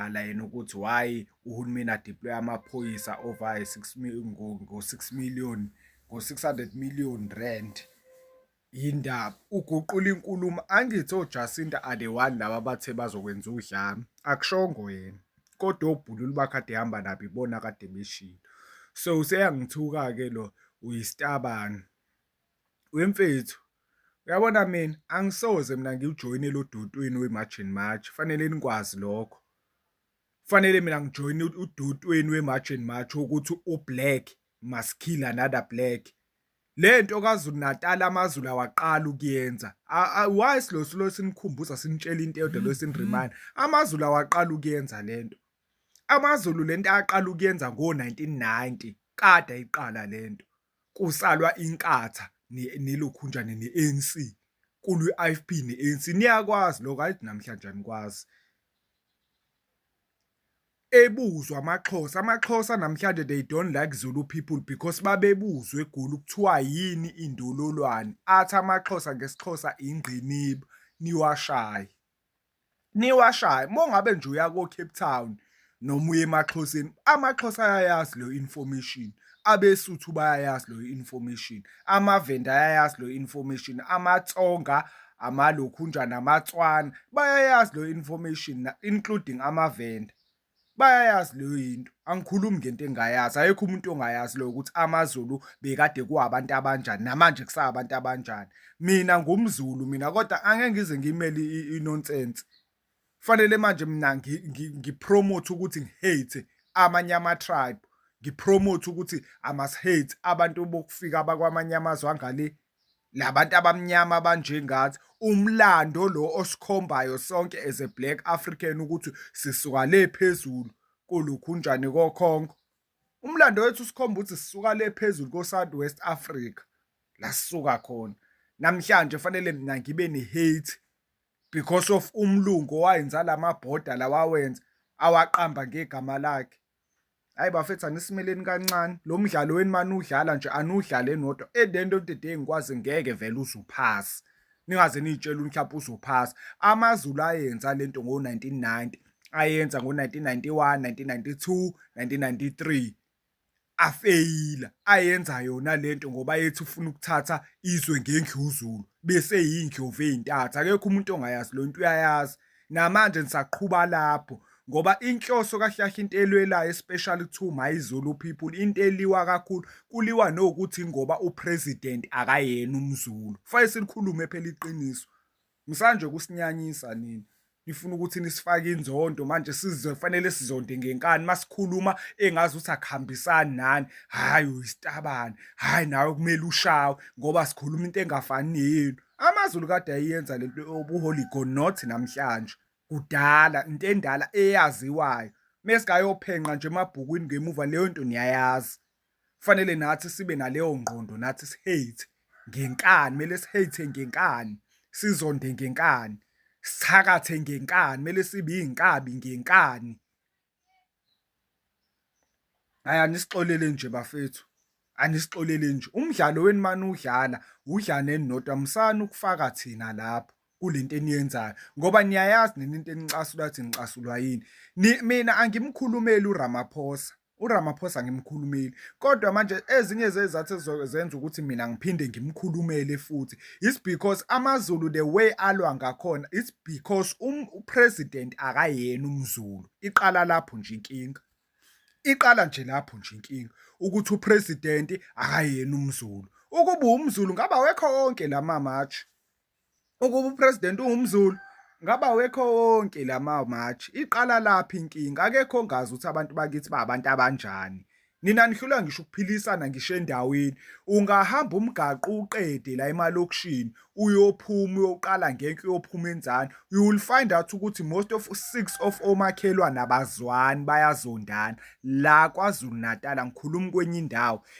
kala yena ukuthi why uhulumeni adeploy amaphoyisa over 6 ngo-6 million ngo-600 million rand yindaba uguqula inkulumo angithi ojacinta are the one laba bathe bazokwenza udlame akushongo yena kodwa obhululu bakade hamba nabo ibona kade beshilo so useyangithuka ke lo uyisitabani wemfethu uyabona mina angisoze mina ngiwujoyine lo dotweni we-march and march fanele nikwazi lokho fanele mina ngijoyine udotweni we-march and march ukuthi u-black must kill another black lento kaZulu Natal amaZulu awaqala ukuyenza why silo silo sinikhumbuza sinitshela into eyodwa lo siniremind mm-hmm. amaZulu awaqala ukuyenza lento amaZulu lento aqala ukuyenza ngo 1990 kada iqala lento kusalwa inkatha nelokhunjane ne-ANC kulwi IFP ne-ANC niyakwazi lokho ayithi namhlanje anikwazi ebuzwa amaxhosa amaxhosa namhlanje they don't like zulu people because babebuzwa egoli kuthiwa yini indololwane athi amaxhosa ngesixhosa ingqiniba niwashaye niwashaye mongabe nje uya ko Cape Town noma uye emaxhoseni amaxhosa ayayazi leyo information abesuthu bayayazi loyo information amavenda ayayazi loyo information amatsonga amalokhunja namatswana bayayazi loyo information including amavenda bayayazi leyo yinto angikhulumi ngento engayazi ayekho umuntu ongayazi leyo ukuthi amazulu bekade kuwabantu abanjani namanje kusabantu abanjani mina ngumzulu mina kodwa angeke ngize ngimele inonsense Fanele manje mina ngipromote ukuthi ngihate amanye ama-tribe ngipromote ukuthi I must hate abantu bokufika abakwamanye amazwe angale labantu abamnyama abanje ngathi umlando lo osikhombayo sonke as a black african ukuthi sisuka le phezulu kulokhu njani kokhonko umlando wethu usikhomba ukuthi sisuka le phezulu ko South West Africa la sisuka khona namhlanje fanele mina ngibe ne hate because of umlungu owayenza lama border lawawenza awaqamba ngegama lakhe hayi bafethu anisimeleni kancane lo mdlalo weni mani udlala nje anudlale nodwa at the end of the day ngikwazi ngeke vele uzuphasa ningaze niyitshela mhlawumbe uzophasa amazulu ayenza lento ngo-1990 ayenza ngo-1991 1992 1993 afeyila ayenza yona lento ngoba yethi ufuna ukuthatha izwe ngendluzulu bese yindlovu ezintathu akekho umuntu ongayazi lo nto uyayazi namanje nisaqhuba lapho ngoba inhloso kahlahle into elwelayo especially to my Zulu people into eliwa kakhulu kuliwa nokuthi ngoba upresident akayena umzulu fanele silikhulume phela iqiniso Msanje kusinyanyisa nini? Nifuna ukuthi nisifake inzondo manje sizwe kufanele sizonde ngenkani masikhuluma engazi ukuthi akuhambisani nani. Hayi uyisitabane. Hayi nawe kumele ushawe ngoba sikhuluma into engafani neyenu. AmaZulu kade ayenza lento yobuholigo not namhlanje. Kudala into endala eyaziwayo. Mesingayophenqa nje emabhukwini ngemuva leyo nto niyayazi. kufanele nathi sibe naleyo ngqondo nathi sihate ngenkani kumele sihate ngenkani sizonde ngenkani sithakathe ngenkani kumele sibe iy'nkabi ngenkani hayi anisixolele nje bafethu anisixolele nje umdlalo wenu mani udlala udlaneni nodwa musani ukufaka thina lapho kulento eniyenzayo ngoba niyayazi nini into enicasula ukuthi nicasulwa yini mina angimkhulumeli uRamaphosa uRamaphosa ngimkhulumeli kodwa manje ezinye zezathu ezizozenza ukuthi mina ngiphinde ngimkhulumele futhi it's because amaZulu the way alwa ngakhona it's because um, upresident akayena umZulu iqala lapho nje inkinga iqala nje lapho nje inkinga ukuthi upresident akayena umZulu ukuba umZulu ngaba wekho wonke la mamatshe ukuba upresident ungumzulu ngaba wekho wonke lama march iqala laphi inkinga akekho ongazi ukuthi abantu bakithi babantu abanjani nina nihlula ngisho ukuphilisana ngisho endaweni ungahamba umgaqo uqede la emalokishini uyophuma uyoqala ngenke uyophuma enzani you will find out ukuthi most of six of omakhelwa nabazwani bayazondana la KwaZulu Natal ngikhuluma kwenye indawo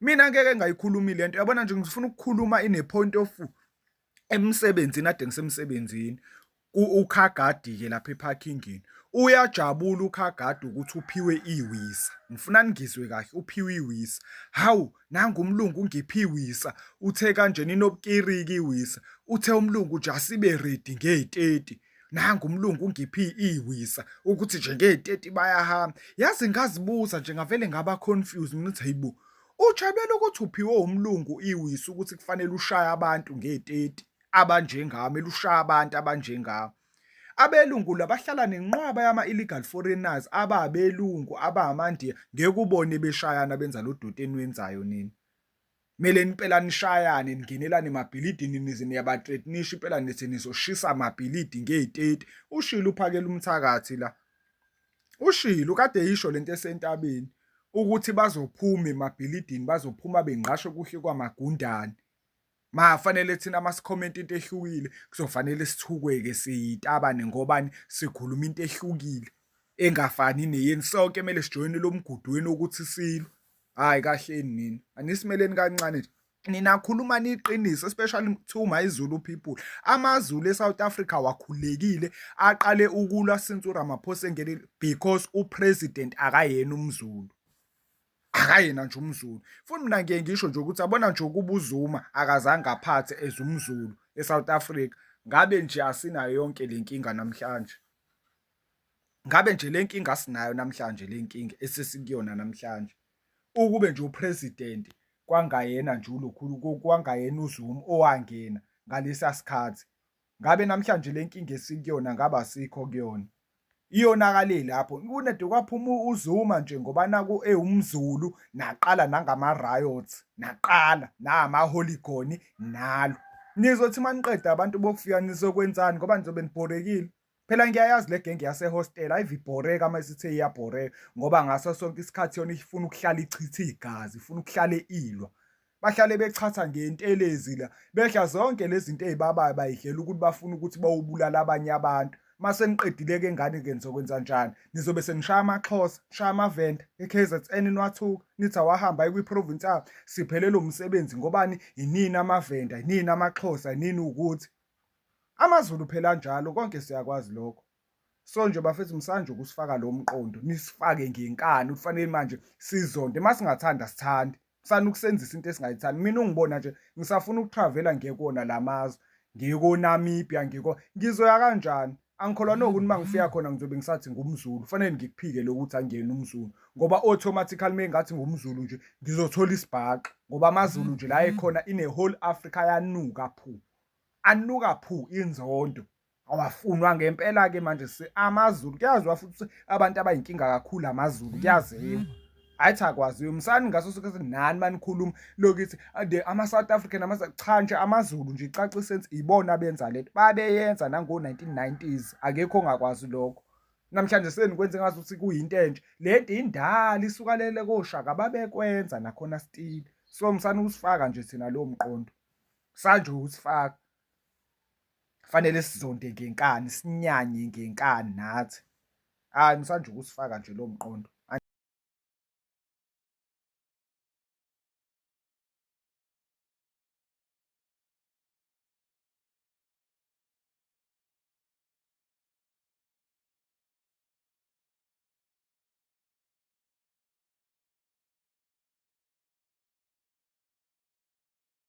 mina ngeke ngayikhulumi le nto yabona nje ngifuna ukukhuluma in a point of emsebenzini ade ngisemsebenzini ukhagadi-ke lapha ephakingini uyajabula ukhagadi ukuthi uphiwe iwisa ngifuna ningizwe kahle uphiwe iwisa hawu nangu umlungu ungiphi iwisa uthe kanjena inobukiriki iwisa uthe umlungu nje asibe ready ngey-30 nangu umlungu ungiphi iwisa ukuthi nje ngey'teti bayahamba yazi ngazibuza nje ngavele ngaba confused mina ukuthi hayibo ujabela ukuthi uphiwe umlungu iwisa ukuthi kufanele ushaye abantu ngey'teti abanjengami elushaya abantu abanjengami abelungu labahlala nenqwaba yama-illegal foreigners ababelungu abamandiya ngeke ubone beshayana benza lo doti eniwenzayo nini kumele impela nishayane ningenelane emabhilidini nize niyabathreatnisha impela nithi nizoshisa amabhilidi ngey'teti ushilo uphakela umthakathi la ushilo kade yisho lento esentabeni ukuthi bazophuma emabhilidini bazophuma bengqashe kuhle kwamagundane mafanele thina masikhomenta into ehlukile kuzofanele sithukeke siyitabane ngobani sikhuluma into ehlukile engafani neyeni sonke kumele sijoyine lo mgudweni wokuthi silwe hayi kahleni nini anisimeleni kancane nje nina khuluma niqiniso especially kuthiwa mayizulu people amazulu eSouth Africa wakhulekile aqale ukulwa since uRamaphosa engene because upresident akayena umzulu akayena nje umzulu futhi mina ngiye ngisho nje ukuthi abona nje ukuba uzuma akazange aphathe as umzulu eSouth Africa ngabe nje asinayo yonke le nkinga namhlanje ngabe nje le nkinga sinayo namhlanje le nkinga esesikuyona namhlanje ukube nje upresident kwangayena nje ulokhulu kwangayena uZuma owangena ngalesa sikhathi ngabe namhlanje le nkinga esikuyona ngaba sikho kuyona iyonakale lapho kunede kwaphuma uZuma nje ngoba naku ewumzulu naqala nangama riots naqala nama holigoni nalo nizothi maniqeda abantu bokufika nizokwenzani ngoba nizobe nibhorekile Phela ngiyayazi le genge yasehostela ayivibhoreka uma isithe iyabhoreka ngoba ngaso sonke isikhathi yona ifuna ukuhlala ichithe igazi, ifuna ukuhlale ilwa. Bahlale bechatha ngentelezi la, bedla zonke lezi zinto ezibabayo bayidlela ukuthi bafuna ukuthi bawubulala abanye abantu. Uma seniqedile-ke ngane-ke nizokwenza njani? Nizobe senishaya amaxhosa, nishaya amavenda, e-KZN niwathuka, nithi awahamba aye kwi-province abo, siphelele umsebenzi ngobani? Yinini amavenda, yinini amaxhosa, yinini ukuthi AmaZulu phela anjalo konke siyakwazi lokho. So nje bafethu msanje ukusifaka lo mqondo nisifake ngenkani ufanele manje sizonde masingathanda sithande. Kusana ukusenzisa into esingayithandi. Mina ungibona nje ngisafuna ukutravela ngekona lamazwe. Ngiko Namibia ngiko ngizoya kanjani? Angikholwa nokuthi uma ngifika khona ngizobe ngisathi ngumZulu. Kufanele ngikuphike lokuthi angiyena umZulu ngoba automatically mengathi ngumZulu nje ngizothola isibhaxu ngoba amaZulu nje la ekhona ine whole Africa yanuka phu. anuka phu inzondo awafunwa ngempela ke manje si amazulu kuyaziwa futhi abantu abayinkinga kakhulu amazulu kuyaziwa ayithi akwaziyo msani ngaso sonke ukuthi nani manikhuluma lokuthi the ama-south african cha nje amazulu nje icaca isensi ibona benza lento babeyenza nango-1990s akekho ongakwazi lokho namhlanje senikwenze ngazi ukuthi kuyinto entsha le nto indala isukalele koshaka babekwenza nakhona stile so msani usifaka nje thina lowo mqondo kusanje usifaka fanele sizonde ngenkani sinyanye ngenkani nathi hayi msanje ukusifaka nje lo mqondo